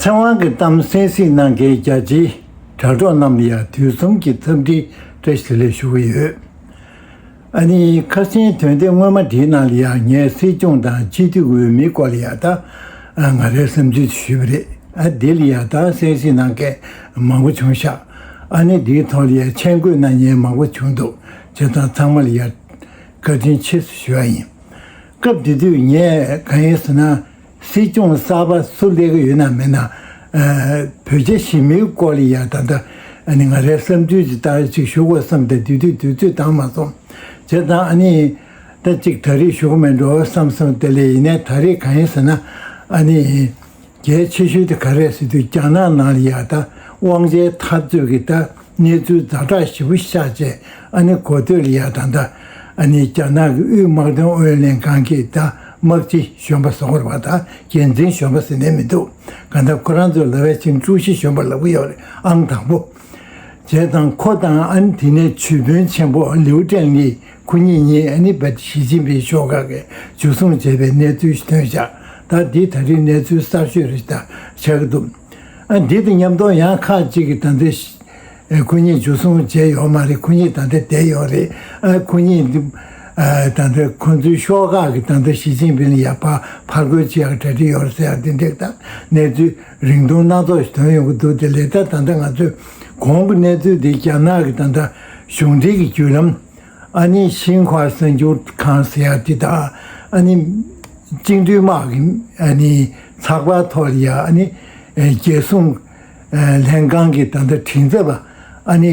ཚེ་དབང་གི་གཏམ་གསན་གཟིགས་གནང་མཁན་རྒྱ་ཆེའི་དྲ་གྲོགས་རྣམས་ཡང་དུས་གསུམ་གྱི་འཚམས་འདྲི་བཀྲ་ཤིས་ལེ་ཞུ་གི་ཡོད། ཨ་ནི་ཁ་སེང་དོན་དེ་སྔོན་མ་བྲིས་གནང་ལ་ཡང་ངས་སྲིད་སྐྱོང་དང་སྤྱི་འཐུས་འོས་མི་སྐོར་ལ་ཡང་དག་ང་རེ་བསམ་ཚུལ་དེ་ཞུས་པ་རེད། ཨ་འདི་ལ་ཡང་དག་གསན་གཟིགས་གནང་མཁན་མང་པོ་བྱུང་ཤག་ཨ་ནི་འདིའི་ཐོག་ལ་ཡང་མཆན་འགོད་གནང་མྱན་མང་པོ་བྱུང་འདུག་བྱེད་སྟངས་ཚང་མར་ཡར་བཀའ་དྲིན་ཆེ་ཞུ་བ་ཡིན། སྐབས་དེ་དུས་ངས་གང་ཡིན་ཟེར་ན་སྲིད་སྐྱོང་གསར་པ་སུ་སླེབས་ཀྱི་ཡོད་ན་མེད་ན་བོད་རྒྱ་ཞི་མིའི་སྐོར་ལ་ཡང་ད་ལྟ་ང་རའི་བསམ་ཚུལ་གྱི་ལྟར་གཅིག་ཞུ་དགོས་བསམ་སྟེ་དེ་དུས་དུས་ཚོད་འདང་མ་སོང། བྱས་ཙང་ཨ་ནི་ད་གཅིག་ད་རེས་ཞུ་གི་མེད་འགྲོ་བསམ་སོང་དེ་ལས་ཡིན་ན་ད་རེས་གང་ཡིན་ཟེར་ན་ཨ་ནི། གལ་ཆེ་ཤོས་དེ་ག་རེད་ཟེར་དུས་རྒྱ་ནག་ནང་ལ་ཡག་ད་དབང་ཆའི་འཐབ་རྩོད་ཀྱི་ད་གནས་ཚུལ་རྫ་དྲག་ཞི་བུ་ཤ་བཅས་ཨ་ནི་གོ་ཐོས་ལ་ཡག་ད་ད་ཨ་ནི་རྒྱ་ནག་གི་དབུས་དམག་དོན་ཨུ་ལྷན་ཁང་གིས་ད་དམག་སྤྱི་གཞོན་པ་བཟོ་དགོས་པ་ད་རྒྱལ་མཚན་གཞོན་པ་ཟེར་ནས་མི་འདུག་ག་ད་ཁོ་རང་ཚོས་ལ་བས་ཆིང་ཀྲུའུ་ཞི་གཞོན་པ་ལབ་ཀྱི་ཡོད་རེད་ཨང་དང་པོ། བྱས་དང་ཁོ་དང་ཨ་ནི་དེ་ནས་ཆོས་དཔོན་ཆེན་པོ་ལིའུ་ཀྲེང་ལི་ཁོ་གཉིས་གཉིས་ཨ་ནི་བ་དི་ཞི་ཅིན་ཕིང་ཤོག་ཁག་གི་འཇུ་བཟུང་བྱས་པའི་གནས་ཚུལ་སྟོན་བཞག་ད་འདི་ད་རིང་གནས་ཚུལ་གསར་ཤོས་རེ་ད་ཆགས་ཀྱི་འདུག་ཨ་འདི་དང་མཉམ་དོ་ཡང་ཁག་ཅིག་གི་ད་འདི་ཁོ་གཉིས་འཇུ་བཟུང་བྱས་ཡོག་མ་རེད་ཁོ་གཉིས་ད་འདི་བསྡད་ཡོག་རེད་ཨ་ཁོ་གཉིས་ད་འདི་ཁོ་ཚོའི་ཤོག་ཁག་གི་ད་འདི་ཞི་ཅིན་ཕིང་ལ་ཡག་པ་ཕར་རྒོལ་བྱས་ཡག་གྲ་སྒྲིག་ཡོག་རེད་ཟེར་ཡག་འདི་འགྲིག་ད་གནས་ཚུལ། རིང་ཐུང་སྣ་ཚོགས་ཤིག་དོན་ཡོང་གི་འདུག་དེ་ལས་ད་ད་ལྟ་ང་ཚོས་གོང་གི་གནས་ཚུལ་དེ་རྒྱ་ནག་གི་ད་ལྟ་གཞུང་འབྲེལ་གྱི་བརྒྱུད་ལམ། ཨ་ནི་ཤིན་ཧྭ་གསར་འགྱུར་ཁང་ཟེར་ཡག་དེ་དག་ཨ་ནི། བཅིངས་འགྲོལ་དམག་གི་ཨ་ནི། ཚགས་པར་ཐོག་ལ་ཡང་ཨ་ནི། རྒྱལ་སྲུང། ལྷན་ཁང་གི་ད་ལྟ་དྲིན་གཟབ་ཨ་ནི།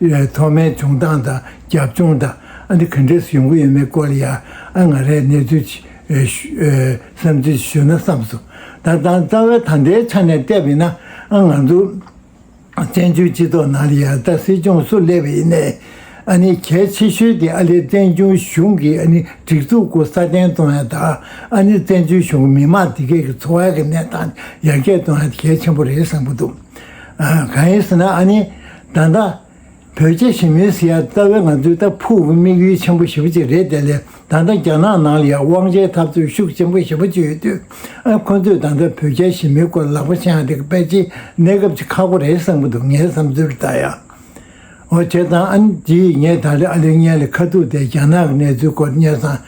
ལའི་ཐོག་མའི་བྱུང་སྟངས་དང་རྒྱབ་ལྗོངས་དང་ཨ་འདི་ག་འདྲེས་ཡོང་གི་ཡོད་མེད་སྐོར་ལ་ཡང་ཨ་ང་རས་གནས་ཚུལ་བསམ་ཚུལ་ཞུ་ན་བསམས་སོང། ད་དང་རྩ་བའི་ད་ལྟའི་ཆ་ནས་བལྟས་པས་ན་ཨ་ང་ཚོ་བཙན་བྱོལ་སྤྱི་ཚོགས་ནང་ལ་ཡང་ད་སྲིད་སྐྱོང་སུ་སླེབས་ཡིན་ནའི་ཨ་ནི་གལ་ཆེ་ཤོས་དེ་ཨ་ལས་བཙན་བྱོལ་གཞུང་གི་ཨ་ནི་སྒྲིག་འཛུགས་སྐོར་སྲ་བརྟན་གཏོང་ཡ་ད་ཨ་ནི་བཙན་བྱོལ་གཞུང་གི་མི་མང་དེ་གས་ཀྱི་འཚོ་བ་གི་གནས་སྟངས་ཡར་རྒྱས་གཏོང་ཡ་གལ་ཆེན་པོ་རེད་བསམ་གྱི་འདུག། གང་ཡིན་ཟེར་ན་ཨཱ་ནི། ད་ལྟ། བོད་རྒྱ་ཞི་མོལ་ཟེར་ཡ་རྩ་བའི་ང་ཚོའི་ད་ཕུག་གི་དམིགས་ཡུལ་ཆེན་པོ་ཞེ་པོ་གཅིག་རེད་དེ་ལས་ད་ལྟ་རྒྱ་ནག་ནང་ལ་ཡང་དབང་ཆའི་འཐབ་རྩོད་ཤུགས་ཆེན་པོ་ཞེ་པོ་གཅིག་ཡོད་དུས་ཨ་ཁོ་ཚོས་ད་ལྟ་བོད་རྒྱ་ཞི་མོལ་སྐོར་ལག་པ་འཆང་རེ་གི་པད་ཆེན་གནས་སྐབས་ཀྱི་ཁ་སྒོ་རེད་བསམ་གི་འདུག་ངའི་བསམ་ཚུལ་ལྟར་ཡང། ཨོ་ཁྱེད་དང་ཨན་གྱིས་ངས་ད་རེས་ཨ་ལེ་ཉལ་ལ་ཁ་ཐུག་སྟེ་རྒྱ་ནག་གི་གནས་ཚུལ་སྐོར་བསྙད་བཟང་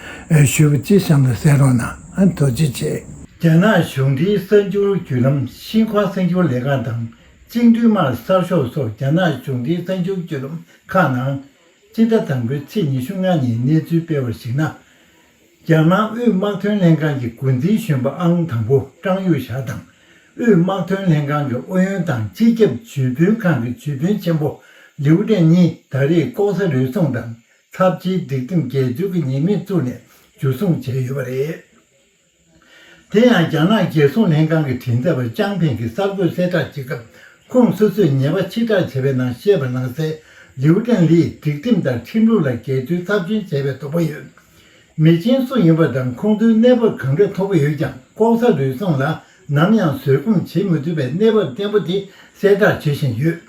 ཞུས་པ་ཅི་བཤམས་ལ་ཟེར་རོགས་གནང་དོ་ཅི་བྱེད། རྒྱ་ནག་གཞུང་འབྲེལ་གསར་འགྱུར་བརྒྱུད་ལམ་ཤིན་ཁོང་གསར་འགྱུར་ལས་ཁང་དང་ཅིང་འབྲུག་དམར་གསར་ཤོག་སོགས་རྒྱ་ནག་གཞུང་འབྲེལ་གསར་འགྱུར་བརྒྱུད་ལམ་ཁག་ནང། སྤྱི་ཟླ་དང་པོའི་ཚེས་ཉི་ཤུ་ལྔ་ཉིན་གནས་ཚུལ་སྤེལ་བར་གཞིགས་ན། རྒྱ་ནག་དབུས་དམག་དོན་ལྷན་ཁང་གི་འགོ་འཛིན་གཞོན་པ་ཨང་དང་པོ་ཀྲང་ཡུས་ཞའོ་དང། དབུས་དམག་དོན་ལྷན་ཁང་གི་ཨུ་ཡོན་དང་སྤྱི་ཁྱབ་ཇུས་འབུལ་ཁང་གི་ཇུས་འབུལ་ཆེན་པོ་ལིའུ་ཀྲན་གཉིས་ད་རེས་ལྐོག་ཟ་རུལ་སུངས་དང་ཚབས་ཆེའི་སྒྲིག་ཁྲིམས་འགལ་འཛོལ་གྱི་ཉེས་མིང་བཙུགས་ནས་འཇུ་བཟུང་བྱས་ཡོད་པ་རེད། དེ་ཡང་རྒྱ་ནག་རྒྱལ་སྲུང་ལྷན་ཁང་གི་དྲིན་གཟབ་པ་ཅང་ཕིང་གིས་གསར་འགོད་གསལ་བསྒྲགས་བྱེད་སྐབས་ཁོངས་སོ་སོས་ཉེས་པ་ཕྱིར་བསྒྲགས་བྱས་པའི་ནང་བཤད་པ་ནང་གསལ་ལིའུ་ཀྲན་ལིས་སྒྲིག་ཁྲིམས་དང་ཁྲིམས་ལུགས་ལ་འགལ་འཁྲུལ་ཚབས་ཆེན་བྱས་པའི་དོགས་པ་ཡོད། མི་ཆེན་སུ་ཡིན་པ་དང་ཁོང་ཚོའི་གནས་བབ་གང་འདྲ་མཐོ་པོ་ཡོད་ཀྱང་ལྐོག་ཟ་ལུས་གསོམ་ལ་ནམ་ཡང་བཟོད་སྒོམ་བྱེད་མི་ཐུབ་པའི་གནས་བབ་བརྟན་པོ་དེ་གསལ་བསྒྲགས་བྱེད་བཞིན་ཡོད།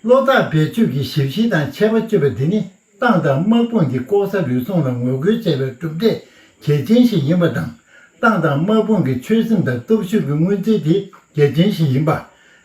བློ་ཐག་རྦད་ཆོད་ཀྱིས་ཞིབ་བཤེར་དང་ཆད་པ་གཅོད་པ་འདི་ནི་ཏང་དང་དམག་དཔུང་གིས་ལྐོག་ཟ་ལུས་གསོམ་ལ་ངོ་རྒོལ་བྱེད་པའི་གྲུབ་འབྲས་གལ་ཆེན་ཞིག་ཡིན་པ་དང་ཏང་དང་དམག་དཔུང་གི་ཆོད་སེམས་དང་སྟོབས་ཤུགས་ཀྱི་མངོན་ཚུལ་དེ་གལ་ཆེན་ཞིག་ཡིན་པ།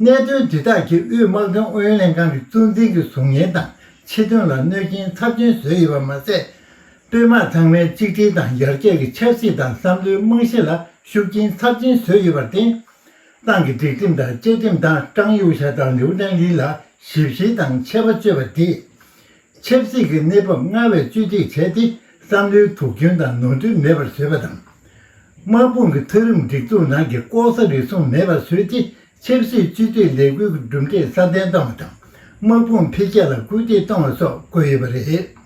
གནད་དོན་དེ་དག་གིས་དབུས་དམག་དོན་ཨུ་ཡོན་ལྷན་ཁང་གི་གཙོ་འཛིན་གྱི་གཟུགས་བརྙན་དང་ཆེད་དོན་ལ་གནོད་རྐྱེན་ཚབས་ཆེན་བཟོས་ཡོད་པ་མ་ཟད། དཔོན་དམག་ཚང་མའི་གཅིག་སྒྲིལ་དང་ཡར་རྒྱས་ཀྱི་ཆབ་སྲིད་དང་བསམ་བློའི་རྨང་གཞི་ལ་ཤུགས་རྐྱེན་ཚབས་ཆེན་བཟོས་ཡོད་པར་བརྟེན། ཏང་གི་སྒྲིག་ཁྲིམས་དང་བཅའ་ཁྲིམས་དང་ཀྲང་ཡུའུ་ཞཱ་དང་ལིའུ་ཀྲང་ལི་ལ་ཞིབ་བཤེར་དང་ཆད་པ་གཅོད་པ་དེས། ཆབ་སྲིད་ཀྱི་གནས་བབ་སྔར་བས་བཅོས་སྒྲིག་བྱས་ཏེ་བསམ་བློའི་དུག་སྐྱོན་དང་ནོར་འཁྲུལ་མེད་པར་བཟོས་པ་དང། དམག་དཔུང་གི་མཐོ་རིམ་སྒྲིག་འཛུགས་ནང་གི་ལྐོག་ཟ་རེ་ཟུང་མེད་པར་བཟོས་ཏེ་ཆབ་སྲིད་བཅོས་སྒྲིག་ལས་སྒོའི་གྲུབ་འབྲས་སྲ་བརྟན་བཏང་བ་དང་དམག་དཔུང་འཕེལ་རྒྱས་ལ་སྐུལ་འདེད་བཏང་བ་སོགས་བཀོད་ཡོད་པ་རེད།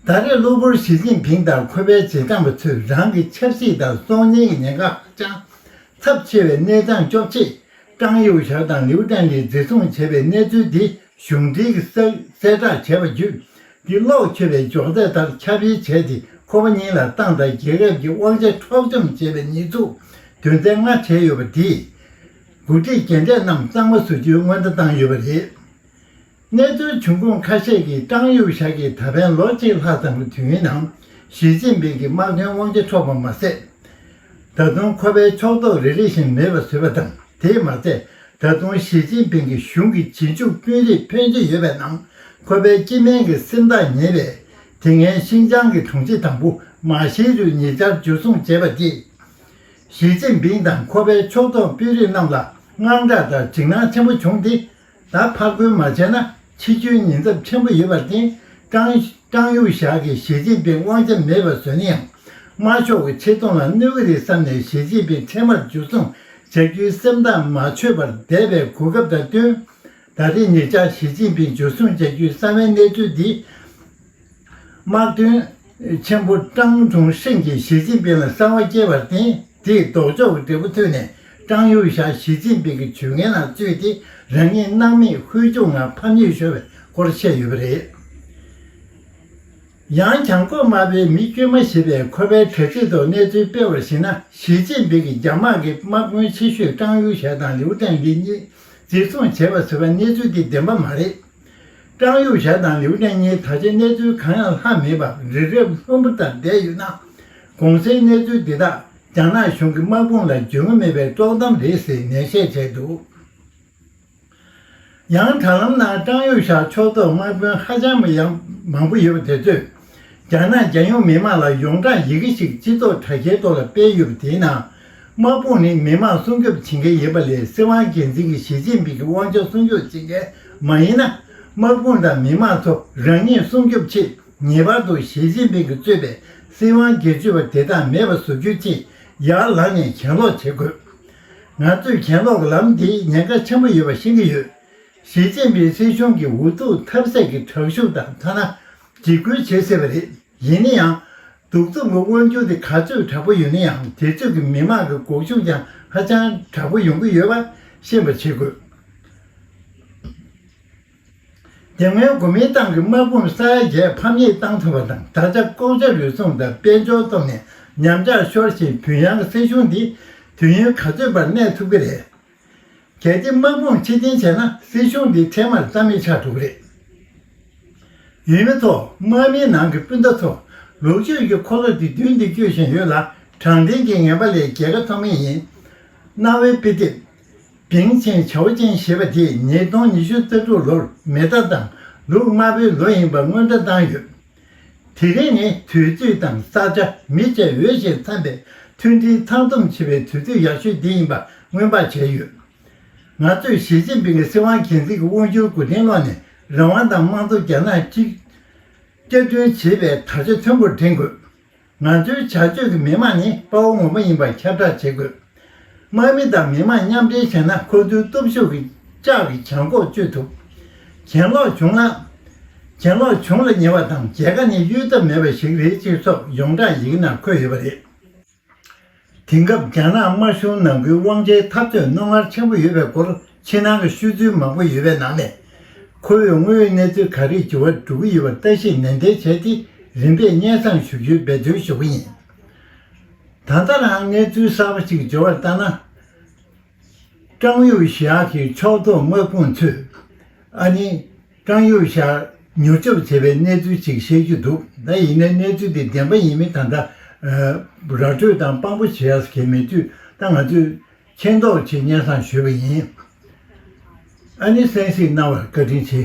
ད་རེས་གློ་བུར་ཞི་ཅིན་ཕིང་དང་ཁོ་པའི་བྱེད་སྟངས་པ་ཚོས་རང་གི་ཆབ་སྲིད་དང་གསོག་ཉར་གྱི་ཉེན་ཁ་ཧ་ཅང་ཚབས་ཆེ་བའི་གནས་སྟངས་གཅོག་ཆེད་ཀྲང་ཡུའུ་ཞའོ་དང་ལིའུ་ཀྲན་ལིས་འཛིན་བཟུང་བྱས་པའི་གནས་ཚུལ་འདི་གཞུང་འབྲེལ་གྱི་གསལ་བསྒྲགས་བྱས་པ་བརྒྱུད་གྱི་གློག་འཁྱུད་པའི་འཇོག་འདེགས་ལྟར་ཁྱབ་སྤེལ་བྱས་ཏེ་ཁོ་པ་གཉིས་ལ་ཏང་དང་རྒྱལ་ཁབ་ཀྱི་དབང་ཆ་འཕྲོག་བཅོམ་བྱས་པའི་ཉེས་འཛུགས་དོན་ཚན་ལྔ་བྱས་ཡོད་པ་དེས། འགོ་ཁྲིད་རྒན་གྲས་རྣམས་གཙང་མ་བཟོ་རྒྱུའི་སྔོན་བརྡ་བཏང་ཡོད་པ་རེད། གནས་ཚུལ་བྱུང་ཁུངས་ཁ་ཤས་ཀྱིས་ཀྲང་ཡུའུ་ཞཱ་གིས་ད་ཕན་ལོ་གཅིག་ལྷག་ཙམ་གྱི་དུས་ཡུན་ནང་ཞི་ཅིན་ཕིང་གི་དམག་དོན་དབང་ཆ་འཕྲོག་པ་མ་ཟད། ད་དུང་ཁོ་པའི་ཕྱོགས་གཏོགས་རེ་རེ་བཞིན་མེད་པར་བཟོས་པ་དང་དེས་མ་ཚད་ད་དུང་ཞི་ཅིན་ཕིང་གི་གཞུང་གི་བྱེད་འཇུག་དཔོན་རིགས་ཕོན་ཆེ་ཡོད་པའི་ནང་ཁོ་པའི་སྤྱི་སྨན་གྱི་སེམས་ཐག་ཉེ་བས། དེ་སྔའི་ཤིང་ཅང་གི་དྲུང་ཆེ་དང་པུ་མ་ཞིས་རུས་ཉེ་ཆར་འཇུ་བཟུང་བྱས་པ་རྗེས། ཞི་ཅིན་ཕིང་དང་ཁོ་པའི་ཕྱོགས་གཏོགས་དཔོན་རིགས་རྣམས་ལ་དངངས་སྐྲག་དང་འཇིགས་སྣང་ཆེན་པོ་བྱུང་སྟེ། ད་ཕག་བོད་མ་བྱས་ན་ཕྱི་བཅོས་ཉེན་ཚབས་ཆེན་པོ་ཡོད་པར་བརྟེན་ཀྲང་ཀྲང་གཡུ་བཞག་གིས་ཞི་ཅིན་ཕིང་དབང་ཆ་མེད་པར་བཟོས་ན་ཡང་དམར་ཤོག་གི་ཆེ་མཐོང་ལ་གནོད་ཀྱི་རེད་བསམ་ནས་ཞི་ཅིན་ཕིང་འཕྲལ་མར་འཇུ་བཟུང་བྱ་རྒྱུའི་སེམས་ཐག་མ་ཆོད་པར་བསྡད་པའི་གོ་སྐབས་དང་བསྟུན། ད་ལྟའི་ཉེ་ཆར་ཞི་ཅིན་ཕིང་འཇུ་བཟུང་བྱ་རྒྱུའི་གསང་བའི་གནས་ཚུལ་འདི། དམག་དོན་ཆེན་པོ་ཀྲང་ཅུང་ཧྲེང་གིས་ཞི་ཅིན་ཕིང་ལ་གསང་བ་སྐྱེས་པར་བརྟེན་དེས་ལྡོག་ཕྱོགས་ཀྱི་འབྲས་བུ་ཐོན་ནས་ཀྲང་ཡུས་ཞཱ་ཞི་ཅིན་ཕིང་གི་ཇུས་ངན་ལ་བཙུད་དེ་རང་ཉིད་སྣང་མེད་ཧུལ་བྱུང་ངང་ཕམ་ཉེས་ཤོར་བའི་སྐོར་བཤད་ཡོད་པ་རེད། ཡང་བྱང་ཀོ་རྨ་པའི་མི་དཀྱུས་མ་ཞེས་པས་ཁོ་པའི་དྲ་ཚིགས་ཐོག་གནས་ཚུལ་སྤེལ་བར་གཞིགས་ན་ཞི་ཅིན་ཕིང་གིས་རྒྱ་དམག་གི་དམག་དཔོན་ཆེ་ཤོས་ཀྲང་ཡུས་ཞཱ་དང་ལིའུ་ཀྲང་ལི་གཉིས་འཛིན་བཟུང་བྱས་པ་ཟེར་བ་གནས་ཚུལ་དེ་བདེན་པ་མ་རེད། ཀྲང་ཡུས་ཞཱ་དང་ལིའུ་ཀྲན་གཉིས་ད་ཆ་གནས་ཚུལ་གང་ཡང་ལྷག་མེད་པར་རི་རབ་ལྷུན་པོ་ལྟར་བསྡད་ཡོད་ན། གོང་གསལ་གནས་ཚུལ་འདི་དག་རྒྱ་ནག་གཞུང་གི་དམག་དཔུང་ལ་འཇོན་མེད་པའི་དཀྲོག་གཏམ་རེད་ཟེར་ནན་བཤད་བྱས་འདུག་ཡང་དྲ་ལམ་ནང་ཀྲང་ཡུས་ཞཱ་ཕྱོགས་གཏོགས་དམག་དཔོན་ཧ་ཅང་ཡང་མང་པོ་ཡོད་པ་དེ་ཚོས་རྒྱ་ནག་རྒྱལ་ཡོངས་མི་དམངས་ལ་ཡོངས་གྲགས་ཡི་གེ་ཞིག་སྤྱི་ཚོགས་དྲ་རྒྱའི་ཐོག་ལ་སྤེལ་ཡོད་པ་དེའི་ནང་དམག་དཔུང་ནི་མི་དམངས་སྲུང་སྐྱོབ་བྱེད་མཁན་ཡིན་པ་ལས་སྲིད་དབང་སྒེར་འཛིན་གྱི་ཞི་ཅིན་ཕིང་གི་དབང་ཆ་སྲུང་སྐྱོབ་བྱེད་མཁན་མ་ཡིན་ན། དམག་དཔུང་དང་མི་དམངས་ཚོ་རང་ཉིད་སྲུང་སྐྱོབ་ཆེད་ངེས་པར་དུ་ཞི་ཅིན་ཕིང་གིས་གཙོས་པའི་སྲིད་དབང་སྒེར་གཅོད་པ་དེ་དང་མེད་པ་བཟོ་རྒྱུ་ཆེད་ཡར་ལངས་ནས་གྱེན་ལོག་བྱེད་དགོས། ང་ཚོས་གྱེན་ལོག་གི་ལམ་དེས་ཉེན་ཁ་ཆེན་པོ་ཡོད་པ་ཤེས་ཀྱི་ཡོད། ཞི་ཅིན་ཕིང་སྲིད་གཞུང་གིས་འུ་ཐུག་ཐབས་ཟད་ཀྱིས་དྲག་ཤུགས་དང་ཐ་ན་འཇིགས་སྐུལ་བྱེད་སྲིད་པ་རེད། ཡིན་ན་ཡང། གདུག་རྩུབ་ཀྱི་དབང་ཆུང་དེ་ག་ཚོད་དྲག་པོ་ཡོད་ན་ཡང་དེ་ཚོད་ཀྱི་མི་མང་གི་འགོག་ཤུགས་ཀྱང་ཧ་ཅང་དྲག་པོ་ཡོང་གི་ཡོད་པ་ཤེས་པར་བྱེད་དགོས། དེ་སྔོན་གོ་མིན་ཏང་གི་དམག་དཔུང་ས་ཡ་བརྒྱད་ཕམ་ཉེས་བཏང་ཐུབ་པ་དང་ད་ཆ་ལྐོག་ཇ་རུལ་སུངས་དང་དཔལ་འབྱོར་སྟོབས་ནས་ཉམས་ཆག་ཤོར་ཞིང་བུན་ཡང་སྲིད་གཞུང་འདི་དུས་ཡུན་ག་ཚོད་བར་གནས་ཐུབ་ཀྱི་རེད། གལ་ཏེ་དམག་དཔུང་ཕྱིར་འཐེན་བྱས་ན་སྲིད་གཞུང་འདི་འཕྲལ་མར་རྩ་མེད་ཆགས་འགྲོ་གི་རེད། ཡུལ་མི་ཚོ་དམག་མིའི་ནང་གི་སྤུན་ཟླ་ཚོ་ལུག་ཆོས་ཀྱི་འཁོར་ལོ་དེ་མདུན་དུ་སྐྱོད་བཞིན་ཡོད་ལ་དྲང་བདེན་གྱི་ངན་པ་ལས་རྒྱལ་ཁ་ཐོབ་ངེས་ཡིན། གནའ་བོའི་དཔེ་དེབ། བིང་ཆེན་ཆའོ་ཅན་ཞེས་པ་དེས་ཉིས་སྟོང་ཉི་ཤུ་རྩ་དྲུག་ལོར་མེ་སྟག་དང་ལུག་དམར་པོའི་ལོ་ཡིན་པར་སྔོན་བཀྲ་བཏང་ཡོད། དེ་རིང་ནི་དུས་ཚོད་དང་ས་ཆ་མི་བྱེད་འོས་ཞེས་འཚམས་པའི་མཐུན་སྒྲིལ་ཚང་འཛོམས་བྱེད་པའི་དུས་ཚོད་ཡག་ཤོས་འདི་ཡིན་པ་སྔོན་དཔག་བྱས་ཡོད། ང་ཚོས་ཞི་ཅིན་ཕིང་གི་སྲིད་དབང་གལ་འཛིན་གྱི་དབང་བསྒྱུར་གོ་དྲིན་བསློགས་ནས་རང་དབང་དང་དམངས་གཙོ་རྒྱ་ནག་གཅིག། བསྐྱར་སྐྲུན་བྱེད་པའི་དར་ཆ་མཐོན་པོར་བསྒྲེངས་དགོས། ང་ཚོའི་བྱ་སྤྱོད་ཀྱི་མི་དམངས་ནི་དཔའ་བོ་ངོ་བོ་ཡིན་པར་ཁྱབ་བསྒྲགས་བྱེད་དགོས། དམག་མི་དང་མི་དམངས་མཉམ་འབྲེལ་བྱས་ན་ཁོ་ཚོའི་སྟོབས་ཤུགས་ཀྱིས་ལྕགས་ཀྱི་བྱང་ཁོག་གཅོད་ཐུབ། གྱེན་ལོག་བྱུང་ན། གྱེན་ལོག་བྱུང་ལ་ཉེ་བ་དང་མཇལ་ཁ་ནི་གཡོལ་ཐབས་མེད་པ་ཞིག་རེད་ཅེས་སོགས་ཡོངས་གྲགས་ཡི་གེ་ནང་འཁོད་ཡོད་པ་རེད། དེང་སྐབས་རྒྱ་ནག་དམར་གཞུང་ནང་ཁུལ་དབང་ཆའི་འཐབ་རྩོད་རྣོ་ངར་ཆེན་པོ་ཡོད་པའི་སྐོར་ཕྱི་ནང་གི་ཤོད་ཚུལ་མང་པོ་ཡོད་པའི་ནང་ནས། ཁོ་བོས་དངོས་ཡོད་གནས་ཚུལ་ག་རེ་འགྱུར་བ་འགྲོ་གི་ཡོད་པར་བལྟ་ཤེས་ནན་ཏན་བྱས་ཏེ་རིམ་པས་སྙན་བཟང་ཞུ་རྒྱུའི་འབད་བརྩོན་ཞུ་གི་ཡིན། ད་ལྟ་རང་གནས་ཚུལ་གསར་པ་ཞིག་འབྱོར་བ་ལྟར་ན། ཀྲང་ཡུས་ཞཱ་གིས་ཕྱོགས་གཏོགས་དམག་དཔུང་ཚོས་ཨ་ནི། ཀྲང་ཡོས་ཤར། མྱུར་སྐྱོབ་བྱས་པའི་གནས་ཚུལ་ཅིག་བཤད་རྒྱུ་འདུག་ད་ཡིན་ན་གནས་ཚུལ་དེ་བདེན་པ་ཡིན་མིན་ད་ལྟ། ར་སྤྲོད་དང་དཔང་པོ་བྱེད་ཡག་གི་མེད་དུས་ད་ང་ཚོས། མཁྱེན་རྟོགས་ཆེད་སྙན་བཟང་ཞུས་པ་ཡིན། ཨ་ནི་གསན་གཟིགས་གནང་བར་བཀའ་དྲིན་ཆེ།